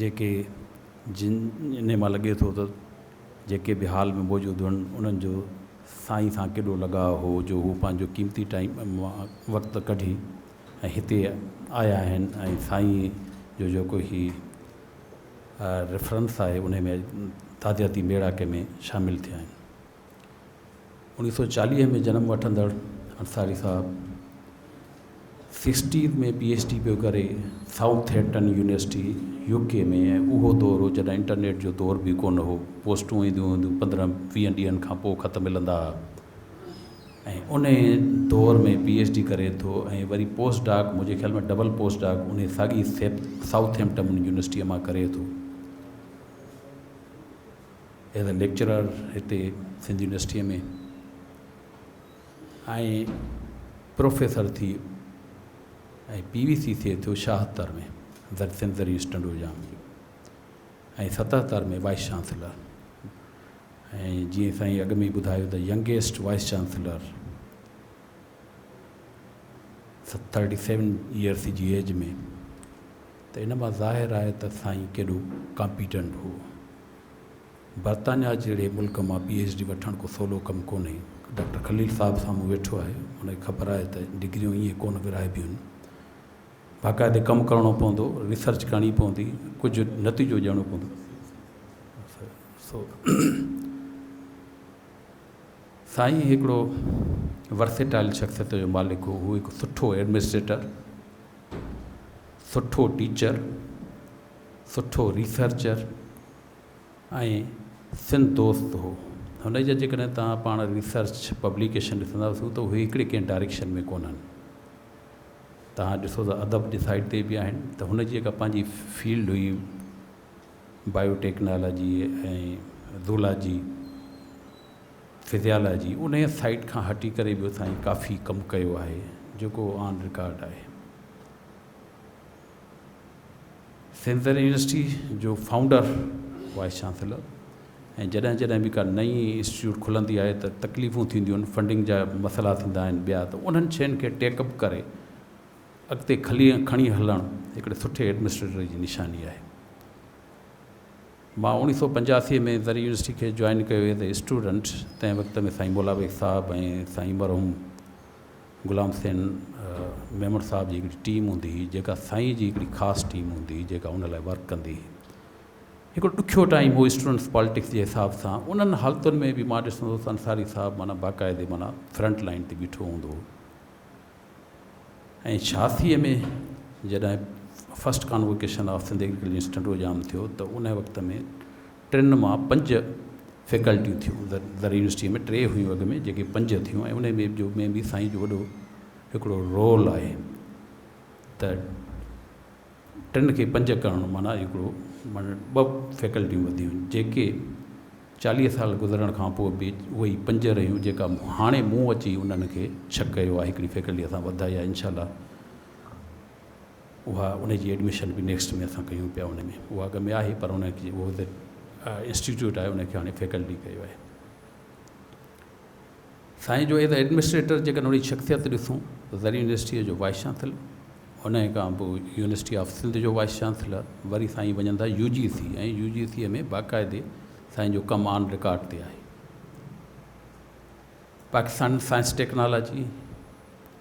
جيڪي جن جنھن مان لڳي ٿو ته جيڪي به ھال ۾ موجود ھئن انھن جو سائين سان ڪيڏو لڳاء ھو جو ھو پنھنجو قيمتي ٽائيم مان وقت ڪڍي ۽ ھتي آيا آھن ۽ سائين جو جيڪو ھي ريفرنس آھي انھي ۾ تعزيتي ميڙاڪي ۾ شامل ٿيا آھن. انيس سو چاليهه ۾ جنم وٺندڙ انصاري صاحب سيڪسٽيز ۾ پي ايڇ ڊي پيو ڪري Southampton university U K ۾ ۽ اهو دور هو جڏهن انٽرنيٽ جو دور به ڪونه هو پوسٽون اينديون هونديون پندرهن ويهن ڏينهن کان پوء خط ملندا هئا ۽ انهي دور ۾ پي ايڇ ڊي ڪري ٿو ۽ وري پوسٽ ڊاڪ منهنجي خيال ۾ ڊبل پوسٽ ڊاڪ انهي ساڳي سائوٿ هيمپٽن يونيورسٽي مان ڪري ٿو ايز اي ليڪچرر هتي سنڌ يونيورسٽيء ۾ ۽ پروفيسر ٿي ۽ پي وي سي ٿئي ٿو شاهتر ۾ زر سنڌ زري اسٽنڊ جام جي ۽ ستهتر ۾ وائس چانسلر ۽ جيئن سائين اڳ ۾ ٻڌايو ته youngest vice chancellor thirty seven years جي ايج ۾ ته ان مان ظاهر آهي ته سائين ڪيڏو ڪامپيٽنٽ هو برطانيا جهڙي ملڪ مان پي ايڇ ڊي وٺڻ ڪو سولو ڪم ڪونهي. ڊاڪٽر خليل صاحب سامهون ويٺو آهي، هن کي خبر آهي ته ڊگريون ائين ڪونه ورهائبيون آهن. باقاعدي ڪم ڪرڻو پوندو، ريسرچ ڪرڻي پوندي، ڪجهه نتيجو ڏيڻو پوندو. سو سائين هڪڙو ورسيٽائل شخصيت جو مالڪ هو، هو هڪ سٺو ايڊمنسٽريٽر، سٺو ٽيچر، سٺو ريسرچر ۽ سنڌ دوست هو. هن جا جيڪڏهن توهان پاڻ ريسرچ پبليڪيشن ڏسندا سو ته اهي هڪڙي ڪنهن ڊائريڪشن ۾ ڪونهن. توهان ڏسو ته ادب جي سائيڊ تي به آهن ته هن جي جيڪا پنهنجي فيلڊ هئي بايو ٽيڪنالاجي ۽ زولاجي فزيالاجي انهيء سائيڊ کان هٽي ڪري به سائين ڪافي ڪم ڪيو آهي جيڪو آن رڪارڊ آهي. سينٽرل يونيورسٽي جو فائونڊر، وائيس چانسيلر ۽ جڏهن جڏهن به ڪا نئين انسٽيٽيوٽ کلندي آهي ته تڪليفون ٿينديون آهن، فنڊنگ جا مسئلا ٿيندا آهن ٻيا ته انهن شين کي ٽيڪ اپ ڪري اڳتي کڻي هلڻ هڪڙي سٺي ايڊمنسٽريٽر جي نشاني آهي. مان اوڻيهه سؤ پنجاسي ۾ زرعي يونيورسٽي کي جوائن ڪيو ايز اي اسٽوڊنٽ تنهن وقت ۾ سائين مولا بيگ صاحب ۽ سائين مرحوم غلام حسين ميمڻ صاحب جي هڪڙي ٽيم هوندي هئي جيڪا سائين جي هڪڙي خاص ٽيم هوندي هئي جيڪا ان لاء ورڪ ڪندي هئي هڪڙو ڏکيو ٽائيم هو اسٽوڊنٽس پالٽڪس جي حساب سان انهن حالتن ۾ به مان ڏسندو هوس انصاري صاحب معنيٰ باقاعدي معنيٰ فرنٽ لائن تي بيٺو هوندو هو ۽ ڇاسي ۾ جڏهن first convocation of Sindh agriculture university Tando Jam ٿيو ته ان وقت ۾ ٽن مان پنج فيڪلٽيون ٿيون زرعي يونيورسٽيء ۾ ٽي هيون اڳ ۾ جيڪي پنج ٿيون ۽ انهي ۾ جو ۾ به سائين جو وڏو هڪڙو رول آهي ته ٽن کي پنج ڪرڻ معنيٰ هڪڙو معنيٰ ٻه فيڪلٽيون وڌيون جيڪي چاليهه سال گذرڻ کان پوء به اهي ئي پنج رهيون جيڪا هاڻي مون اچي انهن کي ڇهه ڪيو آهي هڪڙي فيڪلٽي اسان وڌائي آهي انشاء الله اها ان جي ايڊميشن به نيڪسٽ ۾ اسان ڪيون پيا ان ۾ اها اڳ ۾ آهي پر ان کي اهو ته انسٽيٽيوٽ آهي ان کي هاڻي فيڪلٽي ڪيو آهي سائين جو ايز ايڊمنسٽريٽر جيڪڏهن ان جي شخصيت ڏسون ته زرعي يونيورسٽيء جو وائس چانسلر ان کان پوء يونيورسٽي آف سنڌ جو وائس چانسلر وري سائين وڃن ٿا U G C ۽ U G C ۾ باقاعدي سائين جو ڪم آن رڪارڊ تي آهي Pakistan science technology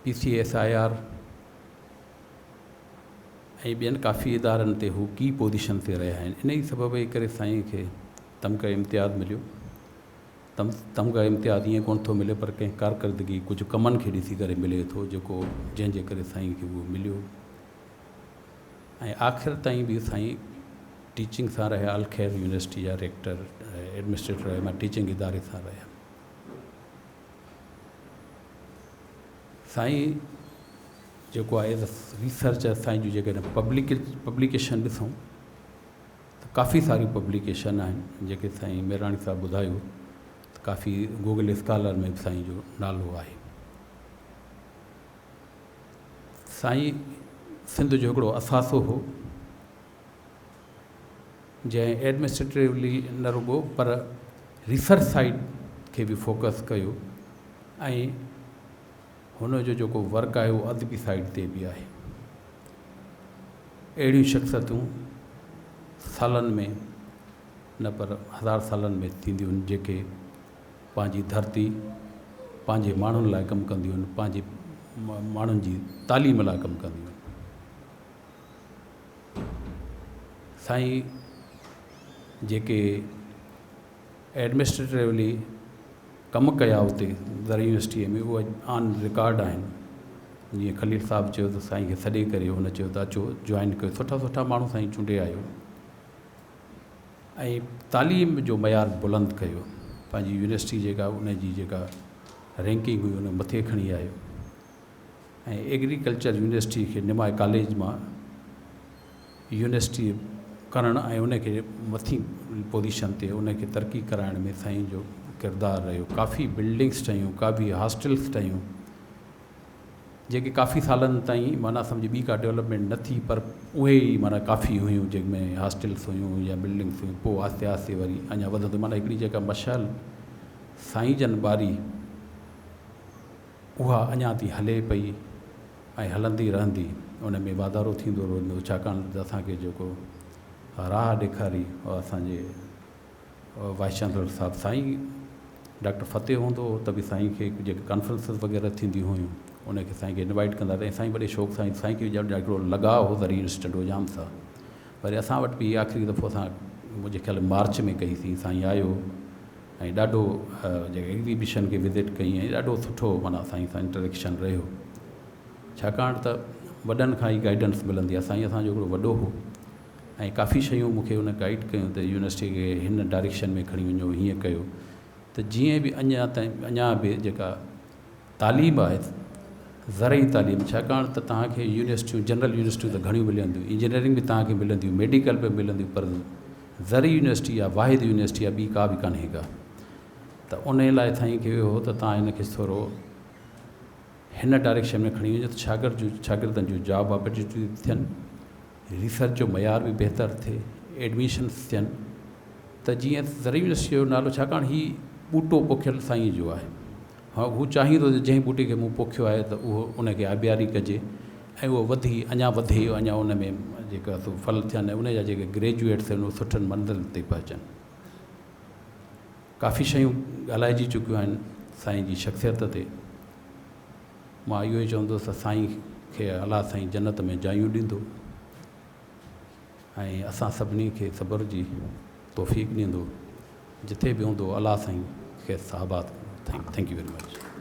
P C S I R ۽ ٻين ڪافي ادارن تي هو ڪي پوزيشن تي رهيا آهن انهي سبب جي ڪري سائين کي تمغه امتياز مليو تمغه امتياز ائين ڪونه ٿو ملي پر ڪنهن ڪارڪردگي ڪجهه ڪمن کي ڏسي ڪري ملي ٿو جيڪو جنهن جي ڪري سائين کي اهو مليو ۽ آخر تائين به سائين ٽيچنگ سان رهيا الخير يونيورسٽي جا ريڪٽر ايڊمنسٽريٽر رهيا ٽيچنگ اداري سان رهيا سائين جيڪو آهي ايز ريسرچ اسان جون جيڪڏهن پبلڪ پبليڪيشن ڏسون ته ڪافي ساريون پبليڪيشن آهن جيڪي سائين ميراڻي صاحب ٻڌايو ته ڪافي گوگل اسڪالر ۾ به سائين جو نالو آهي سائين سنڌ جو هڪڙو اثاثو هو جنهن ايڊمنسٽريٽوي نه رڳو پر ريسرچ سائيڊ کي به فوڪس ڪيو ۽ هن جو جيڪو ورڪ آهي اهو ادبي سائيڊ تي به آهي. اهڙيون شخصيتون سالن ۾ نه پر هزار سالن ۾ ٿينديون آهن جيڪي پنهنجي ڌرتي پنهنجي ماڻهن لاء ڪم ڪنديون آهن پنهنجي ماڻهن جي تعليم لاء ڪم ڪنديون آهن. سائين جيڪي ايڊمنسٽريٽيولي ڪم ڪيا اتي زرعي يونيورسٽيء ۾ اهي آن رڪارڊ آهن جيئن خليل صاحب چيو ته سائين کي سڏي ڪري هن چيو ته اچو جوائن ڪيو سٺا سٺا ماڻهو سائين چونڊي آيو ۽ تعليم جو معيار بلند ڪيو پنهنجي يونيورسٽي جيڪا ان جي جيڪا رينڪنگ هئي ان مٿي کڻي آيو ۽ ايگريڪلچر يونيورسٽي کي نماء ڪاليج مان يونيورسٽي ڪرڻ ۽ ان کي مٿين پوزيشن تي ان کي ترقي ڪرائڻ ۾ سائين جو ڪردار رهيو ڪافي بلڊنگس ٺهيون ڪافي هاسٽلس ٺهيون جيڪي ڪافي سالن تائين معنيٰ سمجھ ٻي ڪا ڊيولپمينٽ نه ٿي پر اهي ئي معنيٰ ڪافي هيون جن ۾ هاسٽلس هيون يا بلڊنگس هيون پوء آهستي آهستي وري اڃا وڌندو معنيٰ هڪڙي جيڪا مشعل سائين جن ٻاري اها اڃا تي هلي پئي ۽ هلندي رهندي ان ۾ واڌارو ٿيندو رهندو ڇاڪاڻ ته اسان کي جيڪو راهه ڏيکاري اها اسان جي وائيس چانسلر صاحب سائين ڊاڪٽر فتح هوندو هو ته به سائين کي جيڪي ڪانفرنسز وغيره ٿينديون هيون ان کي سائين کي انوائيٽ ڪندا ته سائين وڏي شوق سائين سائين کي ڄڻ هڪڙو لڳاء هو ذري انسٽنٽ هو جام سا وري اسان وٽ به آخري دفعو اسان منهنجي خيال مارچ ۾ ڪئي سين سائين آيو ۽ ڏاڍو جيڪا ايگزيبشن کي وزٽ ڪئي ۽ ڏاڍو سٺو معنيٰ سائين سان انٽريڪشن رهيو ڇاڪاڻ ته وڏن کان ئي گائيڊنس ملندي آهي سائين اسان جو هڪڙو وڏو هو ۽ ڪافي شيون مونکي ان گائيڊ ڪيون ته يونيورسٽي کي هن ڊائريڪشن ۾ کڻي وڃو هيئن ڪيو ته جيئن به اڃان تائين اڃان به جيڪا تعليم آهي زرعي تعليم ڇاڪاڻ ته توهان کي يونيورسٽيون جنرل يونيورسٽيون ته گهڻيون ملنديون انجنيئرنگ به توهان کي ملنديون ميڊيڪل به ملنديون پر زرعي يونيورسٽي يا واحد يونيورسٽي يا ٻي ڪا به ڪانهي ڪا ته ان لاء سائين کي اهو هو ته توهان هن کي ٿورو هن ڊائريڪشن ۾ کڻي وڃو ته شاگرد جو شاگردن جو جاب اپرچونيٽي ٿيئن ريسرچ جو معيار به بهتر ٿئي، ايڊميشنس ٿين ته جيئن زرعي يونيورسٽيء جو نالو ڇاڪاڻ هي ٻوٽو پوکيل سائينء جو آهي. هو چاهين ٿو ته جنهن ٻوٽي کي مون پوکيو آهي ته اهو ان کي آبياري ڪجي ۽ اهو وڌي اڃا وڌي اڃا ان ۾ جيڪا سو ڦل ٿين ۽ ان جا جيڪي گريجوئيٽ ٿين اهي سٺن منزلن تي پهچن. ڪافي شيون ڳالهائجي چڪيون آهن سائين جي شخصيت تي. مان اهو ئي چوندس ته سائين کي الله سائين جنت ۾ جايون ڏيندو ۽ اسان سڀني کي صبر جي توفيق ڏيندو جٿي به هوندو الله سائين کيس آباد ڪندو ٿينڪ يو ويري مچ